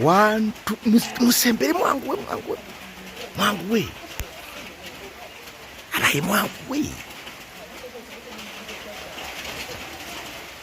wantu musembere mwanguwe mwanguwe mwanguwe abaye mwanguwe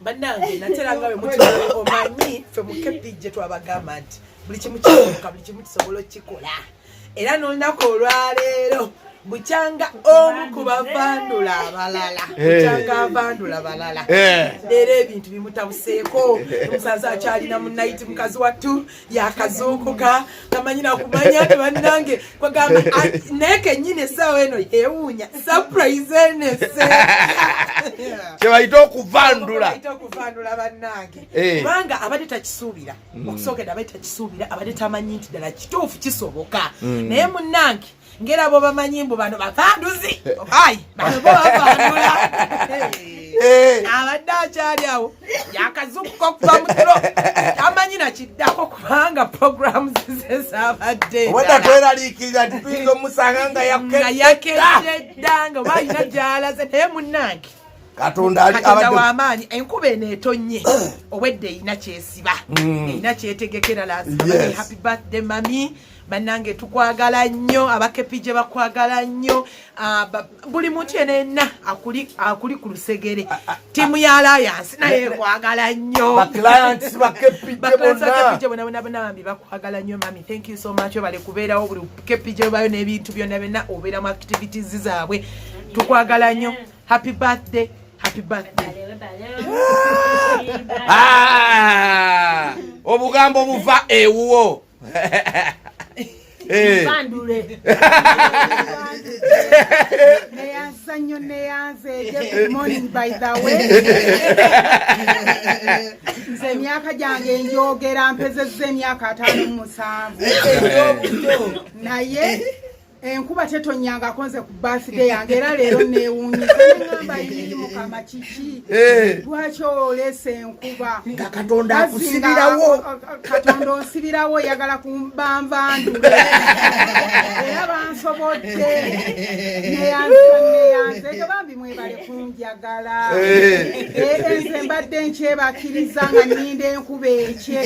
banange natera nga bemukiomanyi fe mukepijje twabagamba nti buli kimu kikoka buli kimu kisobola okukikola era nolunaku olwaleero bukyanga omu ku bavandula abalala eh. bukyanga avandula balala eh. leero ebintu bimutabuseeko omusaza akyalina munayiti mukazi wattu yakazuukuka tamanyi nakumanya ti bannange kwagamba naye kenyini esaawa eno yewuunya surprise enese kyebayita okuvandula okuvandula bannange eh. kubanga abadde takisuubira mm. okusookera abadde takisuubira abadde tamanyi nti ddala kituufu kisoboka mm. naye munnange ngera bo bamanyi mbu bano bakanduzi ai bano bo bavandula eh. abadde akyali awo yakazukuka okuva mutiro tamanyi nakiddako kubanga programu zize zabadde obadda tweralikirira tituyinza omusanga nga yakeddedda nga oba alina gyalaze naye munnange katonda wamaanyi enkuba eno etonnye obwedda erina kyesiba erina mm. kyetegekera lahappy birthday mami banange tukwagala nnyo abakepije bakwagala nnyo ah, buli muntu yena yenna akuli ku lusegere ah, ah, tiimu ya layansi naye ekwagala nnyobonabonabambi bakwagala nnyo mami thank you so much obale kubeerawo buli kepije obayo n'ebintu byonna byonna obeera mu activities zaabwe tukwagala nnyo happy birthday happy birthday obugambo buva ewuwo Eh. bandule neyanza nnyo neyanza eje good morning by the way nze emyaka gyange njogera mpezezza emyaka ataano mu musanvu naye enkuba tetonyanga akonze ku birthday yange era leero neewunyizangamba yii mukama kiki eh. lwaki oleesa enkuba nga katonda akusibirawo katonda onsibirawo oyagala kumbanvandula era bansobodde neyanzeneyanze ekyo bambi mwebale kunjagala eh. Eh, nze mbadde nkyebakiriza nga ninda enkuba ekye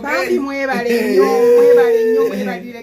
bambi mwebale nyo mwebale nyo mwebalire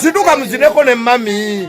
Situka mzineko ne mami.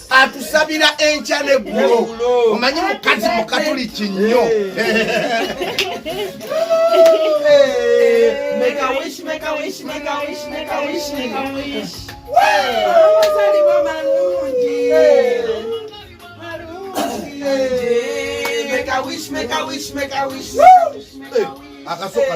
atusabira enkya neggulo omanyi mukazi mukatuliki nnyo akasoka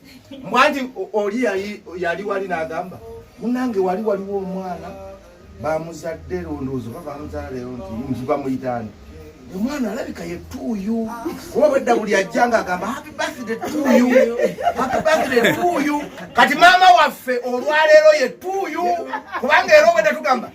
mbwanti oli yali wali nagamba munange wali waliwo omwana bamuzadde londoozo oba bamuzala leero nti nti bamuyitaani omwana alabika ye tuuyu kuba bwedda buli ajja nga agamba happy birthday tuuyu happy birthday tuuyu kati maama waffe olwaleero ye tuuyu kubanga era obwedda tugamba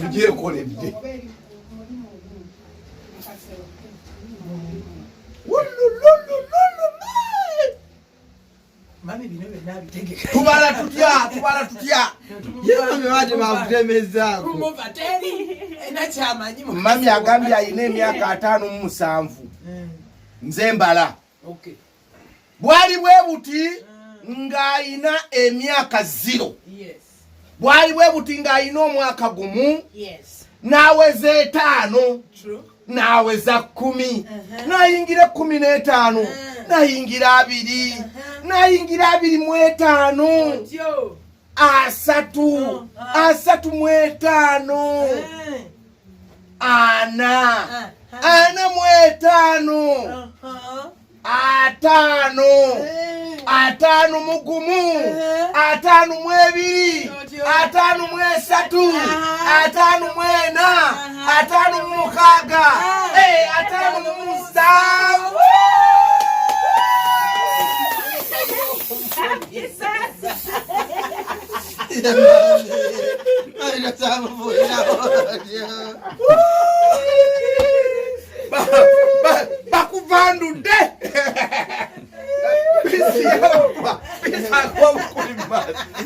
tugyekoledde tubala tutya tubala tutya mami agambye alina emyaka ataano mu musanvu nze mbala bwali bwe buti mm. ng'alina emyaka ziro bwali bwe buti ng'alina omwaka gumu n'aweza etaano n'aweza kkumi uh-huh. n'ayingira ekkumi n'etaano uh-huh. n'ayingira abiri uh-huh. n'ayingira abiri mu etaano asatu oh, ah. asatu mu etaano eh. ana ah, ah. ana mu etaano uh-huh. ataano eh. ataano mu gumu eh. ataano mu ebiri ataano mu esatu uh-huh. ataano mu ena uh-huh. ataano mu mukaaga ataano mu musanvu bakuvandudde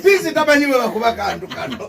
bizi tamanyi bwe bakuba kantu kano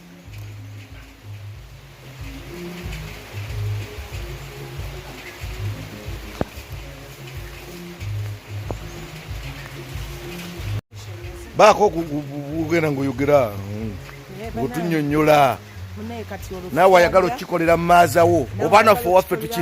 baako kugenda ngaoyogera otunyonyola naawe ayagala okikolera maazawo oba naffe owaffe tuki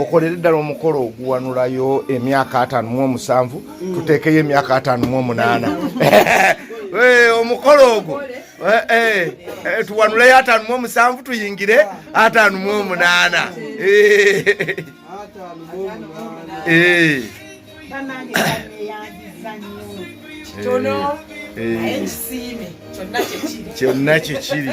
okolere ddala omukolo oguwanulayo emyaka ataano mu omusanvu mm. tuteekeyo emyaka ataano mu omunaana eh, omukolo ogwo eh, eh, tuwanuleyo ataano mu omusanvu tuyingire ataano mu omunaana kyonna kyekiri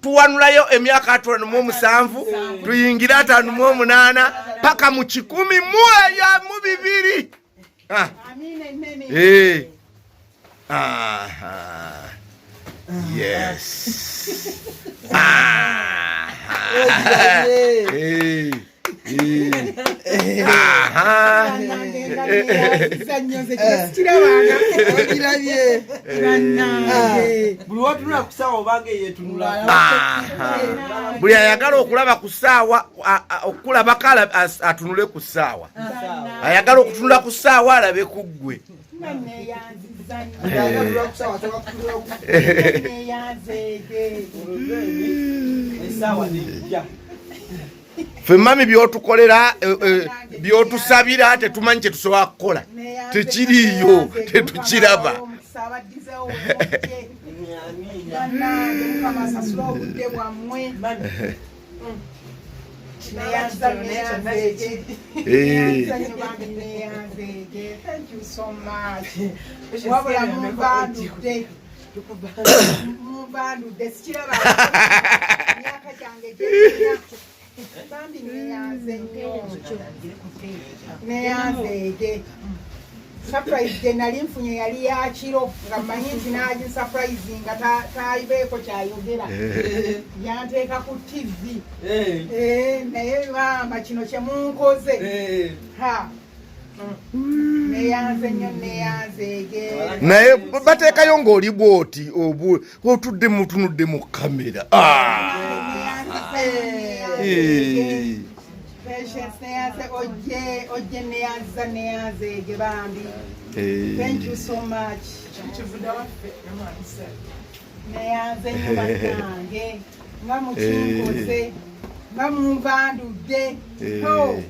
tuwanulayo emyaka atano mu omusanvu tuyingire atano mu omunaana paka mu kikumi mu eyo mu bibiri ah. eh. yes. buli ayagala okulaba ku saawa okulabako atunule ku saawa ayagala okutunula ku saawa alabe ku ggwe ffe mami byotukolera eh, eh, byotusabira tetumanyi kyetusobola kukola tekiriiyo tetukiraba wabula mumbandude surprise gye nali nfunye yali ya kiro nga mmanyi nti nagi surprise nga tayibeeko kyayogera eh. yanteeka ku tv eh. Eh, naye maama kino kyemunkoze naye bateekayo ng'oli bwoti otudde mutunudde mu kamera ah. neyanze nyo banange nga mukinkoze nga munvandudde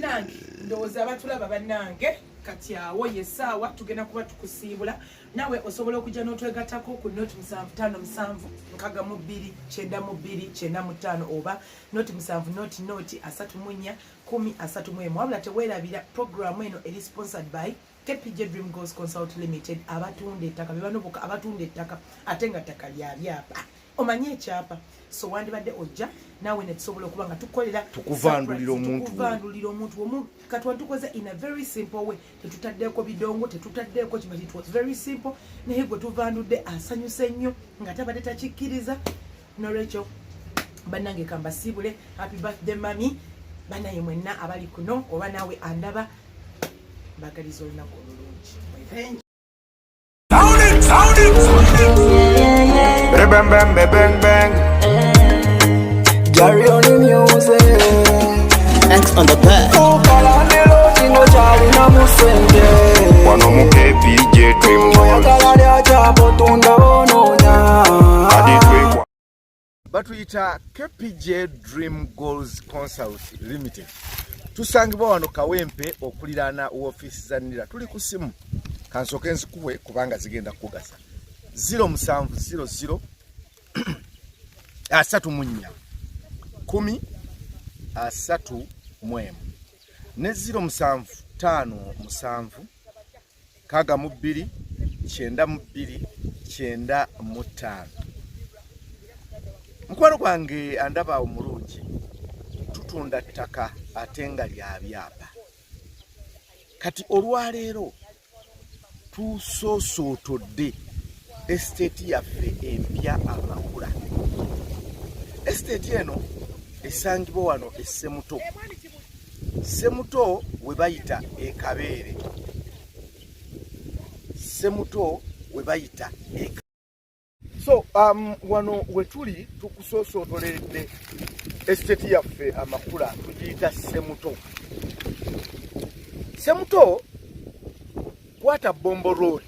nange ndowooza abatulaba banange kati awo yesaawa tugenda kuba tukusiibula nawe osobola okujja n'otwegatako ku noti musanvu tano musanvu nkaga mu bbiri kyenda mu bbiri kyenda mu ttaano oba noti musanvu noti noti asatu munya kumi asatu mu emu wabula teweerabira programu eno eri sponsored by KPJ Dream Goals Consult Limited abatunda ettaka bebano boka abatunda ettaka ate nga ttaka lya byapa omanyi ekyapa so wandibadde ojja naawe netusobola okuba nga tukolera tukuvandulira omuntukuvandulira omuntu omu katwa tukoze in a very simple way tetutaddeeko bidongo tetutaddeeko kiba it was very simple naye gwe tuvandudde asanyuse nnyo nga tabadde takikkiriza nolwekyo banange kambasiibule happy birthday mami banaye mwenna abali kuno oba naawe andaba mbagaliza olunaku olulungi Bang, bang, bang, bang, bang. Carry on the music. Thanks on the bird. wano mu kpj twimbola kadi twekwa batuyita kpj dream goals consult limited tusangibwa wano kawempe okuliraana woofiisi za nira tuli ku simu kansooke nzikuwe kubanga zigenda kukugasa 0700 asatu mu nnya kumi asatu mu emu ne ziro musanvu ttaano musanvu kaaga mu bbiri kyenda mu bbiri kyenda mu ttaano mukwano gwange andaba omulungi tutunda ttaka ate nga lya byapa kati olwaleero tusosootodde esiteeti yaffe empya amakula esiteeti eno esangibwa wano essemuto ssemuto we bayita ekabeere ssemuto we bayita so um, wano wetuli tukusoosootolede esiteti yaffe amakula tugiyita semuto semuto kwata bombo road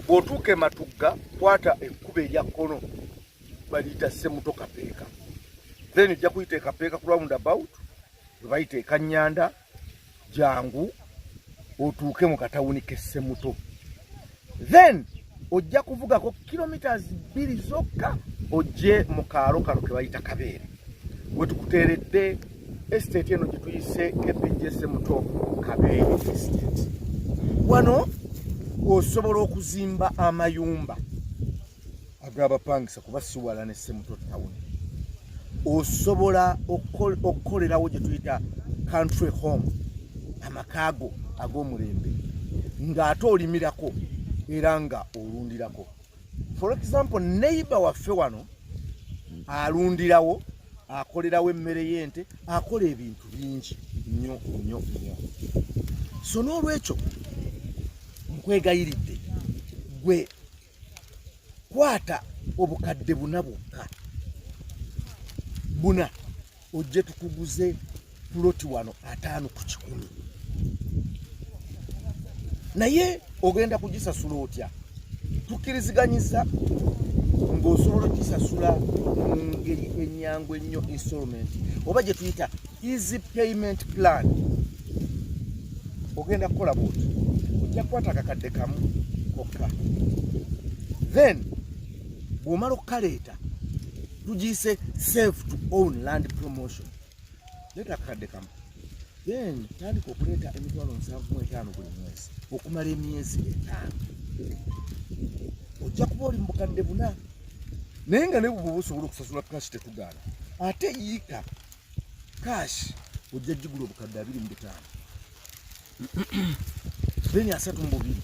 bwotuuka ematugga kwata ekkuba erya kkono baliyita semuto kapeeka then ojja kuyita ekapeeka ku round about webayita ekanyanda jangu otuuke mu katawuni kessemuto then ojja kuvugako kilometres bbiri zokka ojje mu kaalo kano ke bayita kabeere wetukuteeredde estate eno gye tuyise kepejese muto kabeere estate wano osobola okuzimba amayumba agabapangisa kuba siwala ne semuto town osobola okukolerawo gye tuyita country home amakaago ag'omulembe ng'ate olimirako era nga olundirako for example neighbor waffe wano alundirawo akolerawo emmere y'ente akola ebintu bingi nnyo nnyo nnyo so n'olwekyo nkwegayiridde gwe kwata obukadde buna bwokka buna ojje tukuguze puloti wano ataano ku kikumi naye ogenda kugisasula otya tukkiriziganyiza ng'osobola okisasula mu ngeri ennyangu ennyo installment oba gye tuyita easy payment plan ogenda kukola bwoti ojja kukwata akakadde kamu kokka then bw'omala okukaleeta tugiyise save to own land promotion leeta akakadde kamu then tandika okuleeta emitwalo nsanvu mu etaano buli mwezi okumala emyezi etaano ojja kuba oli mu bukadde buna naye nga ne bwoba osobola okusasula kashi tetugaana ate yiika cash ojja jigula obukadde abiri mu butaano then asatu mu bubiri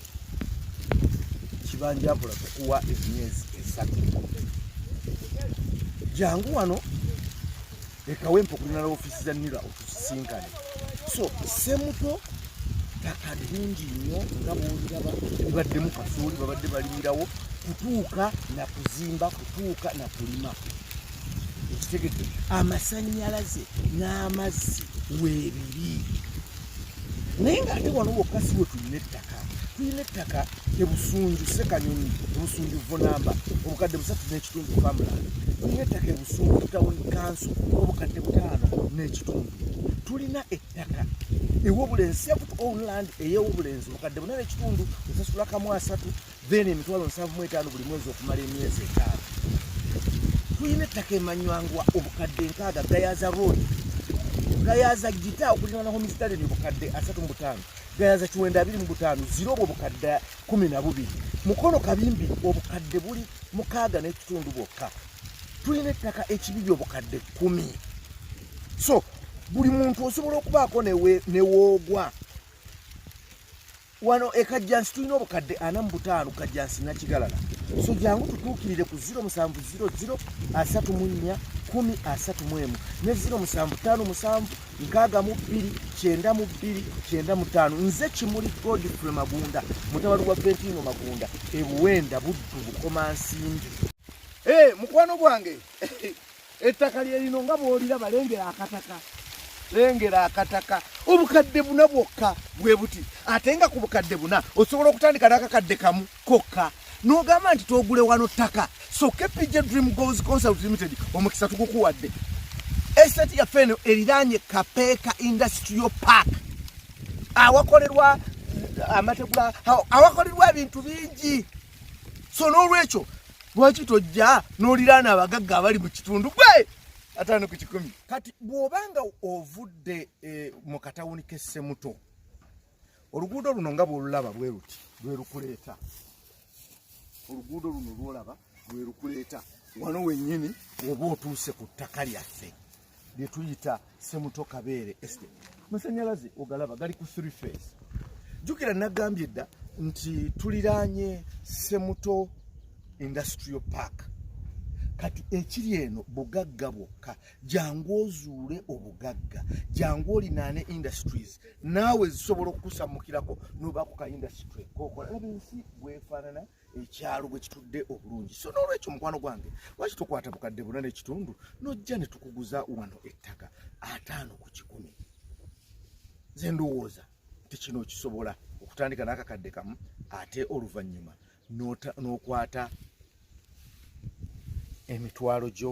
kibanja akola kukuwa emyezi esatu jangu wano ekawempa okulina la ofisi za nira otusisinkane so semuto ttaka lingi nnyo nga bwoliraba libaddemu kasooli babadde balimirawo kutuuka na kuzimba kutuuka na kulima ekitegedde amasanyalaze n'amazzi weebiri naye ng'ate wano wokka si we tulina ettaka tulina ettaka ebusunju sekanyonyi ebusunju vonamba obukadde busatu n'ekitundu famula tulina ettaka ebusunju tawuni kanso obukadde butaano n'ekitundu tulina ettaka ewobulenzi sept own land eyewobulenzi obukadde buna n'ekitundu esasula kamu asatu then emitwalo nsanvu mu etaano buli mwezi okumala emyezi etaano tulina ettaka emanywangwa obukadde nkaaga gayaza road gayaza gita okulirana homistalin obukadde asatu mu butaano gayaza kiwenda abiri mu butaano zira obwo obukadde kumi na bubiri mukono kabimbi obukadde buli mukaaga n'ekitundu bwokka tulina ettaka ekibiri obukadde kumi so buli muntu osobola okubaako newoogwa wano e kajjansi tulina obukadde ana mu butaano kajjansi nakigalala so jangu tutuukirire ku 0700 asatu mu nnya kumi asatu mu emu ne 0757 nkaaga mu bbiri kyenda mu bbiri kyenda mu ttaano nze kimuli godfrey magunda mutabali gwa ventino magunda ebuwenda buddu bukomansimbi e eh, mukwano gwange Ettaka lye lino nga bw'oliraba lengera akataka lengera akataka obukadde buna bwokka bwe buti ate nga ku bukadde buna osobola okutandika n'akakadde kamu kokka n'ogamba nti twogule wano ttaka so kpj dream goals consult limited omukisa tugukuwadde estate yaffe eno eriraanye kapeeka industrial park awakolerwa amategula awakolerwa ebintu bingi so n'olwekyo lwaki tojja n'oliraana abagagga abali mu kitundu gwe ataano ku kikumi kati bw'oba nga ovudde eh, mu katawuni k'essemuto oluguudo luno nga bw'olulaba bwe luti lwe lukuleeta oluguudo luno lw'olaba lwe lukuleeta wano wennyini oba otuuse ku ttaka lyaffe bye tuyita semuto kabeere estate masanyalaze ogalaba gali ku three face jukira nagambye dda nti tuliraanye semuto industrial park kati ekiri eno bugagga bwokka jangu ozuule obugagga jangu olinaane industries naawe zisobola okukusamukirako nobakuka industry kokola laba ensi gwefaanana ekyalo bwe kitudde obulungi so n'olwekyo mukwano gwange lwaki tokwata bukadde buna n'ekitundu nojja ne tukuguza wano ettaka ataano ku kikumi nze ndowooza nti kino okisobola okutandika n'akakadde kamu ate oluvannyuma n'okwata emitwalo gyo